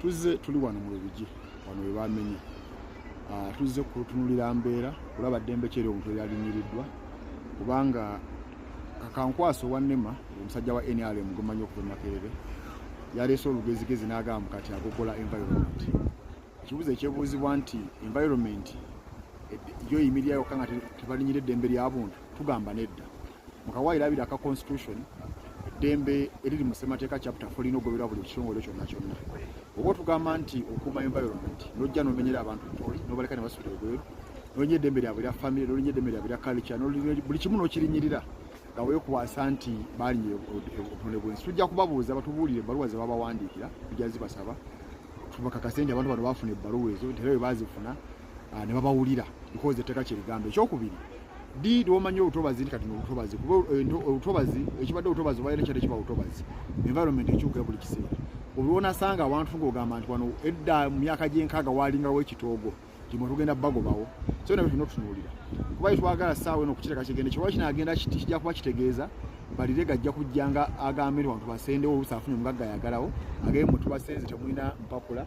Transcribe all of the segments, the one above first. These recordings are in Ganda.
tuzze tuli wano mu lubigi wano we bamenye ah, tuzze kutunulira mbeera kulaba ddembe kyeri omuntu eyalinyiridwa kubanga kakankwasa owannema omusajja wa nrm gwemanyi okuva makerere yaleese olugezigezi n'agamba kati agogola environment ekibuzo ekyebuuzibwa nti environment eh, yo yimirira yokka nga tebalinyira eddembe lyabuntu tugamba nedda mukawa irabira ka constitution eddembe eriri mu ssemateeka chapter fo lina ogoberwa buli kitongole kyonna kyonna oba otugamba nti okuuma environment nojja nomenyera abantu ntoli nobaleka ne basula ebweru nolinya eddembe lyabwe lya famiry nolinya eddembe lyabwe lya kalica buli kimu nokirinyirira nga wekwasa nti balinye obutonde bwensi tujja kubabuuza batubuulire ebbaluwa zebabawandiikira tujja zibasaba tubakakase nti abantu bano bafuna ebbaluwa ezo nti era bwe bazifuna ah, ne babawulira because etteeka kye ligamba ekyokubiri di lwomanyi obutobazi nti kati nobutobazi kuba eh, obutobazi ekibadde obutobazi obaera kyadde kiba butobazi environment ekyuka buli kiseera olwonasanga abantu ngaogamba nti wano edda mu myaka gyenkaaga waalingawo ekitoogo timwe tugenda bagobawo so nabyo tulina otutunuulira kuba yetwagala saawa eno okukiteeka kigende kyoba kinagenda kiti kijja kuba kitegeeza balire gajja kujja nga agambe nti wantu basendewo oluusi afunye omugagga yagalawo agee mwe tubasenze temulina mpapula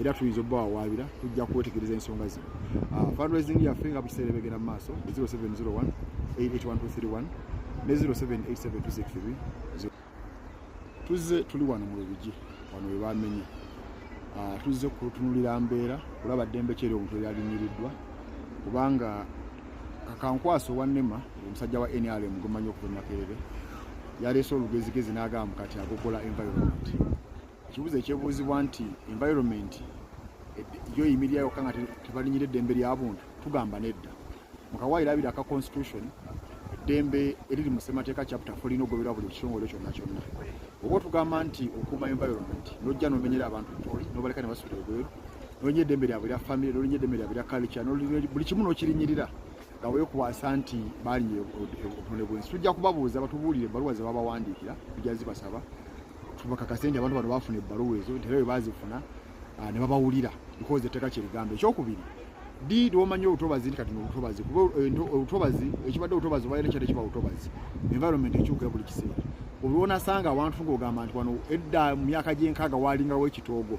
era tuyinza obubawawaabira tujja kwetegereza ensonga zino ah, fundraising yaffe nga bukiseera ebegenda mu maaso 0701 881231 ne 078726 tuzze tuli wano mu lubigi wano we bamenya ah, tuzze kutunulira mbeera kulaba ddembe kyeri omuntu eyalinnyiriddwa kubanga kakankwasa owannema omusajja wa nrm gwemanyi okuva makerere yaleese olugezigezi n'agamba kati agogola environment ekibuzo ekyebuuzibwa nti environment yo yimirira yokka nga tebalinyira eddembe lya buntu tugamba nedda mukawaayiro abiri aka constitution eddembe eriri mu ssemateeka chapter folina ogoberwa buli kitongole kyonna kyonna oba otugamba nti okuuma environment nojja nomenyera abantu ntoli nobaleka ne basula ebweru nolinya eddembe lyabwe lya famire nolinya eddembe lyabwe lya culture buli kimu nokirinyirira nga wekwasa nti balinye obutonde bwensi tujja kubabuuza batubuulire ebaluwa zebabawandiikira tujja zibasaba tubakakase nti abantu bano bafuna ebbaluwa ezo nti era bwe bazifuna ah, ne babawulira bikoze etteeka kye ligamba ekyokubiri ddi lwomanyi obutobazi nti kati nobutobazi kuba eh, obutobazi ekibadde obutobazi obaire nekyadde kiba butobazi environment ekyuka buli kiseera olwonasanga awantu ngaogamba nti wano edda mu myaka gyenkaaga walingawo ekitoogo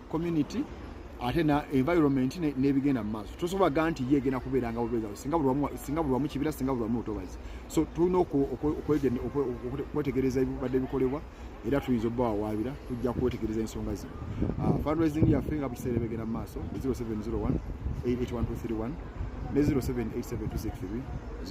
community ate na environment n'ebigenda mu maaso tosobola ga nti ye egenda kubeera nga bubeera singa buli wamu kibira singa buli wamu lutobazi so tulina okwetegereza ebibadde bikolebwa era tuyinza obba wawaabira tujja kwetegereza ensonga zino ah, fundraising yaffe nga bukiseera ebegenda mu maaso 0701 881 ne 0787 263